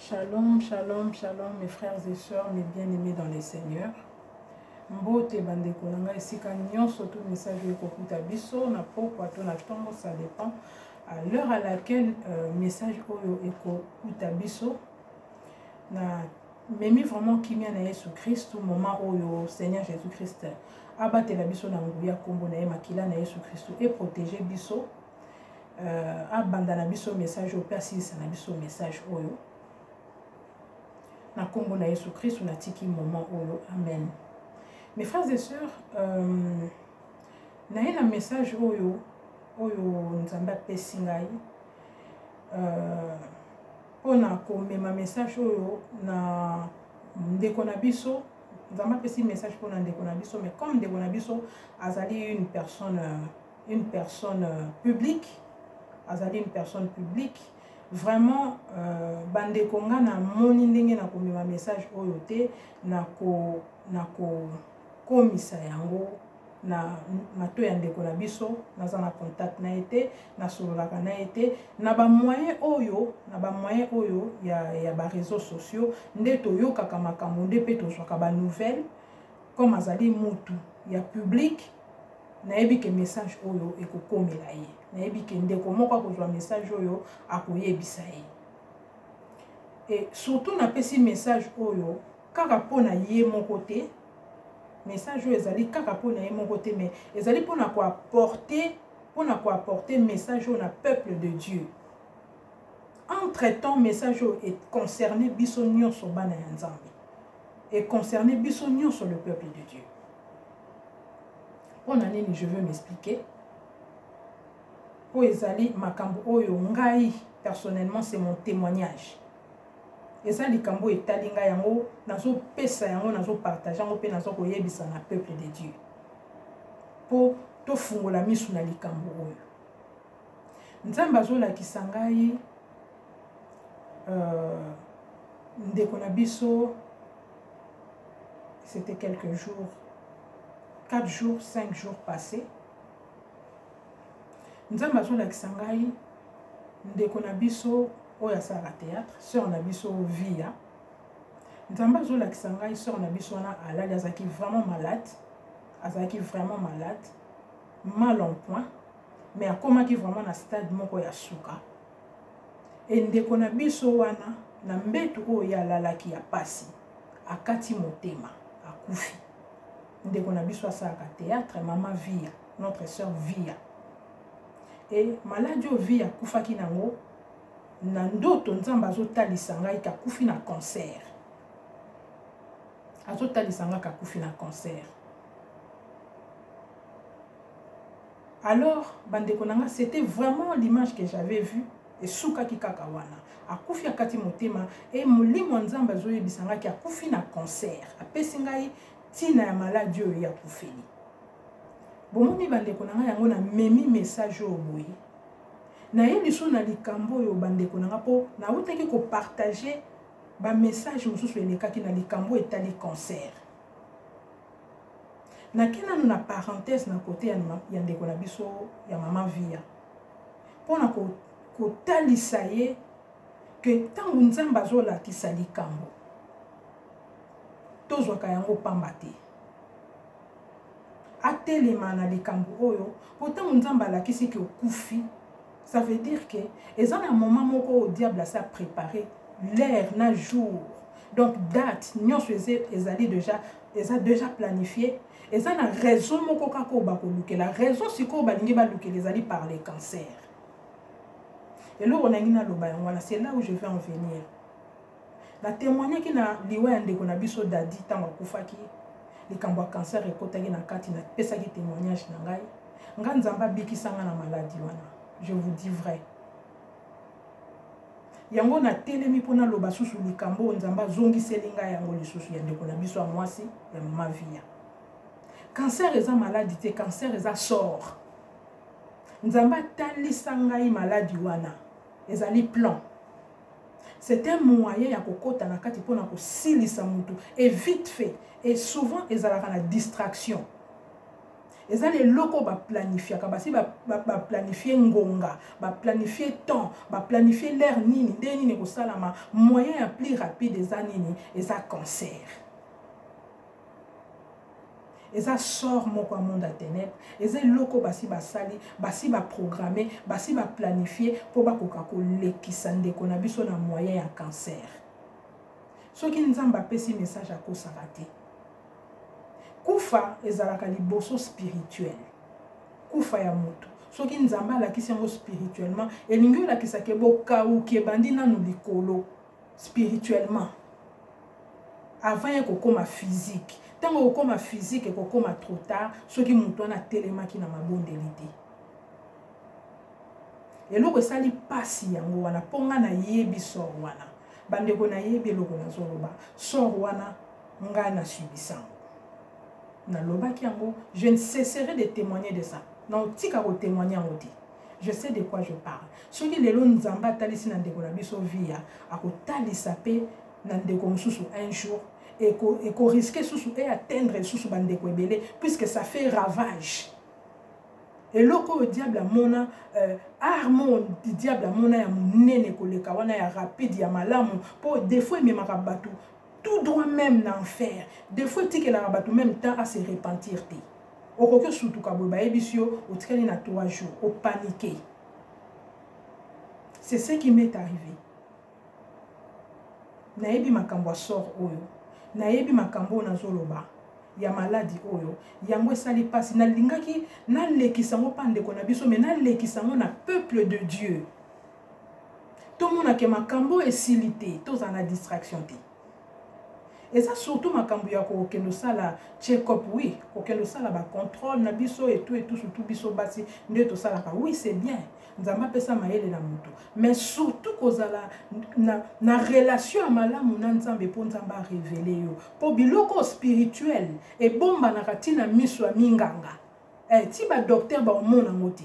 Shalom, shalom, shalom mes frères et sœurs, mes bien-aimés dans les seigneurs. mbote bandeko na ngai esika nyonso to message oyo ekokuta biso na pokwa to na ntongo ça dépend à l'heure à laquelle euh, message oyo ekokuta biso na memi vraiment kimia na yesu kristu moment oyo seigneur jésus christ abatela biso na nguya nkombo na ye makila na yesu kristu eprotege biso euh, abanda na biso message oyo mpe asilisa na biso message oyo na nkombo na yesu kristu natiki moment oyo amen mes frères et sœurs euh, naye na message oyo oyo nzambe apesi ngai euh, mpo na komema message oyo na ndeko na biso nzambe apesi message mpo na ndeko na biso mais comme ndeko na biso azali une personne euh, une personne euh, publique azali une personne publique vraiment euh, bandeko nga namoni ndenge nakomema message oyo te nakokomisa na yango na mato ya ndeko na biso naza na contact na ye te nasololaka na ye te na bamoyen oyo na bamoyen oyo ya, ya bareseau sociaux nde toyokaka makambo nde mpe tozwaka banouvelle comme azali mutu ya publique nayebi ke message oyo ekokomela ye nayebi ke ndeko moko akozwa message oyo akoyebisa ye e surtout napesi message oyo kaka mpo na ye moko te message oyo ezali kaka mpo na ye moko te mais ezali mpo na koaporte mpo na koaporte message oyo na peuple de dieu entre temps message oyo econcerne biso nyonso bana ya nzambe e concerne biso nyonso le peuple de dieu mpo na nini je veux m'expliquer mpo ezali makambo oyo ngai personnellement c'est mon témoignage eza likambo oyo etali ngai yango nazopesa yango nazopartage yango mpe naza koyebisa na peuple de dieu mpo tofungola miso na likambo oyo nzambe azolakisa ngai euh, ndeko na biso c'était quelques jours 4 jours 5 jours passé nzambe azolakisa ngai ndeko na biso oyo asalaka théâtre sœur na biso via nzambe azolakisa ngai sœur na biso wana alali azalaki vraiment malade azalaki vraiment malade mal en point mais akomaki vraiment na stade moko ya suka Et ndeko na biso wana na mbetu oyo ya lalaki ya pasi akati motema akufi ndeko na biso asalaka théâtre mama via notre sœur via e maladi oyo via akufaki nango na ndoto nzambe azotalisa ngai kakufi na cancer azotalisa ngai kakufi na cancer alors bandeko na nga c'était vraiment l'image que j'avais vu esukaki kaka wana akufi akati motema e molimo ya nzambe azoyebisa ngai ke akufi na concert apesi ngai ntina ya maladi oyo ye akufeli bomoni bandeko na ngai yango namemi message oyo boye naye lisusu na likambo oyo bandeko na ngai mpo nautaki kopartage bamessage mosusu elekaki na likambo etali concert nake nanu na parenthèse na kote ya, ya ndeko na biso ya mama via mpo na kotalisa ko ye ke ntango nzambe azolakisa likambo tozwaka yango pamba te atelema na likambo oyo mpo ntango nzambe alakisi ke okufi Ça veut dire que eza na moment moko oyo diable asi aprépare l'heure na jour donc date nyonso ezali déjà eza déjà planifie eza na raison moko kaka oyo bakolukela raison sikoyo balingi balukela ezali par le cancer eloko nangi naloba yango wana c'est là où je vais en venir na temoignaki na liwa ya ndeko na biso dadi ntango akufaki likambo ya kancer ekotaki na kati napesaki témoignage na ngai ngai nzambe abikisa ngai na maladi wana je vous dis vrai yango natelemi mpo naloba susu likambo oyo nzambe azongiseli ngai yango lisusu ya ndeko na biso ya mwasi ya mama viya kancer eza maladi te kancer eza sort nzambe atalisa ngai maladi wana ezali plan c'est un moyen ya kokota na kati mpona kosilisa mutu et vite fait et souvent ezalaka na distraction eza na eloko baplanifiaka basi baplanifie ngonga baplanifie temps baplanifie lere nini ndenge nini ekosalama moyen ya plus rapide eza nini eza cancer eza sort moko ya monde ya tenebre eza eloko basi basali basi baprogramme basi baplanifie mpo bakoka kolekisa ndeko na biso na moyen ya cancer soki nzambe apesi message akosaka te kufa ezalaka liboso spirituel kufa ya moto soki nzambe alakisi yango spirituellement elingi olakisake bokauki ebandi nanu likolo spirituellement avant ye kokoma physique ntango okokoma physique ekokoma trop tard soki moto wana atelemaki na mabondeli te eloko esali mpasi yango wana mpo ngai nayebi sor wana bandeko nayebi eloko nazoloba sor wana ngai nasubisango nalobaki yango je ne cesserai de témoigner de ça naotika kotémoigne yango te je sais de quoi je parle soki lelo nzambe atalisi na ndeko na biso via akotalisa mpe na ndeko mosusu un jour ekoriske susu e atteindre lisusu bandeko ebele puisque ça fait ravage eloko oyo diable amona euh, arme oyo diable amona ya monene koleka wana ya rapide ya malamu mpo defaut ememaka bato tout droit même na enfer defaut etikelaka bato même temps à se repentir te okoki osutuka boye bayebisi yo otikali na 3 jours opanike c'est ce qui m'est arrivé nayebi makambo ya sort oyo nayebi makambo oyo nazoloba ya maladi oyo yango esali mpasi nalingaki nalekisa yango mpa ndeko na biso me nalekisa yango na peuple de dieu tomonake makambo esili te tozala na distraction te eza surtout makambo ya kokende osala check-up oui kokende osala bacontrole na biso etu etu surtout biso basi nde tosalaka oui c'est bien nzambe apesa mayele na moto mais surtout kozala na, na relation ya malamu na nzambe mpo nzambe arevele yo mpo biloko spirituel ebombanaka ntina miso ya minganga eh, ti badoktere baomona yango te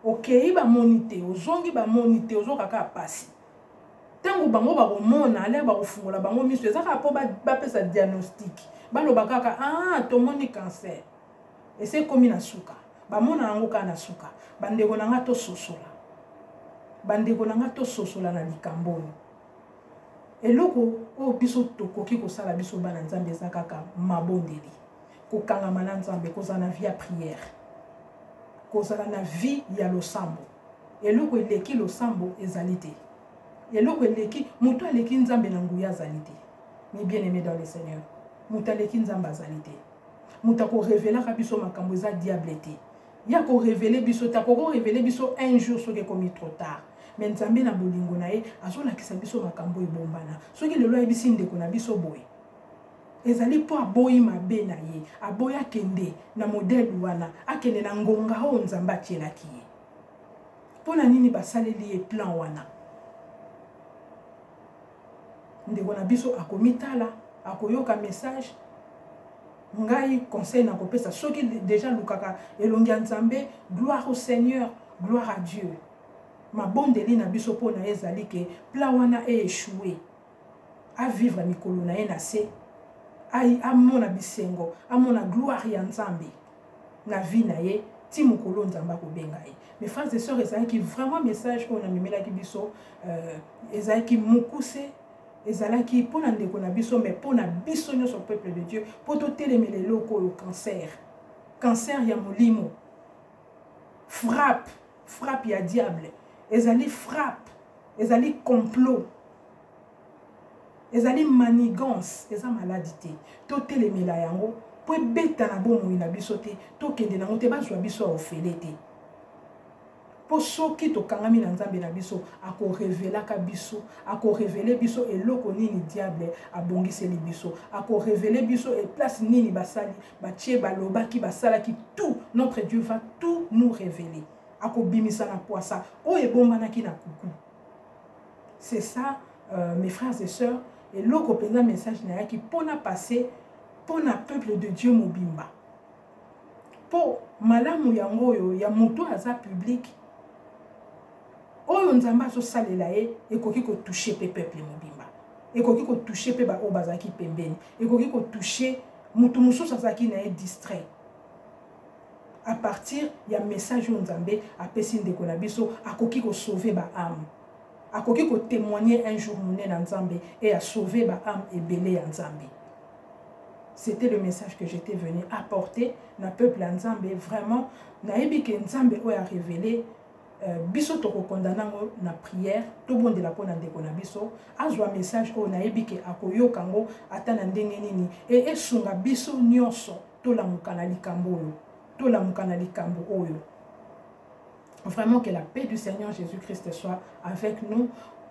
okei bamoni te ozongi bamoni te ozoka kaka mpasi ntango bango bakomona ale bakofungola bango miso eza kaka mpo bapesa ba diagnostic baloba kaka ah tomoni cancer esi ekomi na suka bamona yango kaka na suka bandeko na nga tososola bandeko na nga tososola na likambo oyo eloko oyo biso tokoki kosala biso bana nzambe eza kaka mabondeli kokangama na nzambe kozala na vie ya prière kozala na vie ya losambo eloko eleki losambo ezali te eloko eleki moto aleki nzambe na nguya azali te mi bien aimé dans le seigneur moto aleki nzambe azali te moto akorevelaka biso makambo eza diable te ye akorevele biso te akokorevele biso un jour soki ekomi trop tard me nzambe na bolingo na ye azolakisa biso makambo ebombana soki lelo ayebisi ndeko na biso boye ezali mpo aboyi mabe na ye aboyi akende na modele wana akende na ngonga oyo nzambe atielaki ye mpo na nini basaleli ye plan wana ndeko na biso akomitala akoyoka message ngai conseil nakopesa soki deja lukaka elongi ya nzambe gloire au seigneur gloire à dieu mabondeli na biso mpo na ye ezali ke plan wana eechoue avivre mikolo na ye na se amona bisengo amona gloire ya nzambe na vie na ye ti mokolo nzambe akobenga ye mes frères et sœurs ezalaki vraiment message oyo namemelaki biso euh, ezalaki mokuse ezalaki mpo na ndeko na biso mais mpo na biso nyonso peuple de dieu mpo totelemela eloko oyo cancer cancer ya molimo frappe frappe ya diable ezali frappe ezali complot ezali manigance eza maladi te totelemela yango mpo ebeta na bomoi na biso te tokende nango te bazwa biso ya ofele te mpo soki tokangami na nzambe na biso akorevelaka biso akorevele biso eloko nini diable abongiseli biso akorevele biso eplace nini basali batie balobaki basalaki tout notre dieu va tout nous révéler akobimisa na pwasa oyo ebombanaki na kuku c'est ça euh, mes frères et sœurs eloko mpenza message nayaki mpo na passe mpo na peuple de dieu mobimba mpo malamu yango oyo ya moto aza publike oyo nzambe azosalela ye ekoki kotouche mpe peuple mobimba ekoki kotouche mpe baoyo bazalaki pembeni ekoki kotouche moto mosusu azalaki na ye distrait à partir ya message oyo nzambe apesi ndeko na biso akoki kosauve baame akoki kotémoigne un jour monene ya nzambe e asauve baame ebele ya nzambe c'était le message que j'étais venu apporter na peuple ya nzambe vraiment nayebi ke nzambe oyo arévele Euh, biso tokokondana yango na prière tobondela mpo na ndeko na biso azwa message oyo nayebi ke akoyoka yango ata na ndenge nini e esunga biso nyonso tolamuka na likambo oyo tolamuka na likambo oyo vraiment que la paix du seigneur jésus christ soit avec nous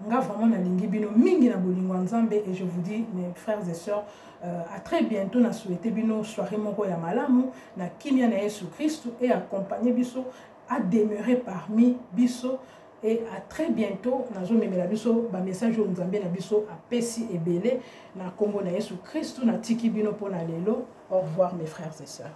nga vraiment nalingi bino mingi na bolingo ya nzambe et je vous dis mes frères et sœurs euh, à très bientôt na souhaite bino soirée moko ya malamu na kimia na yesu kristu et accompagne biso a demeurer parmi biso et à très bientôt nazomemela biso bamessage oyo nzambe na biso apesi ebele na nkombo na yesu kristu natiki bino mpo na lelo au revoir mes frères et sœurs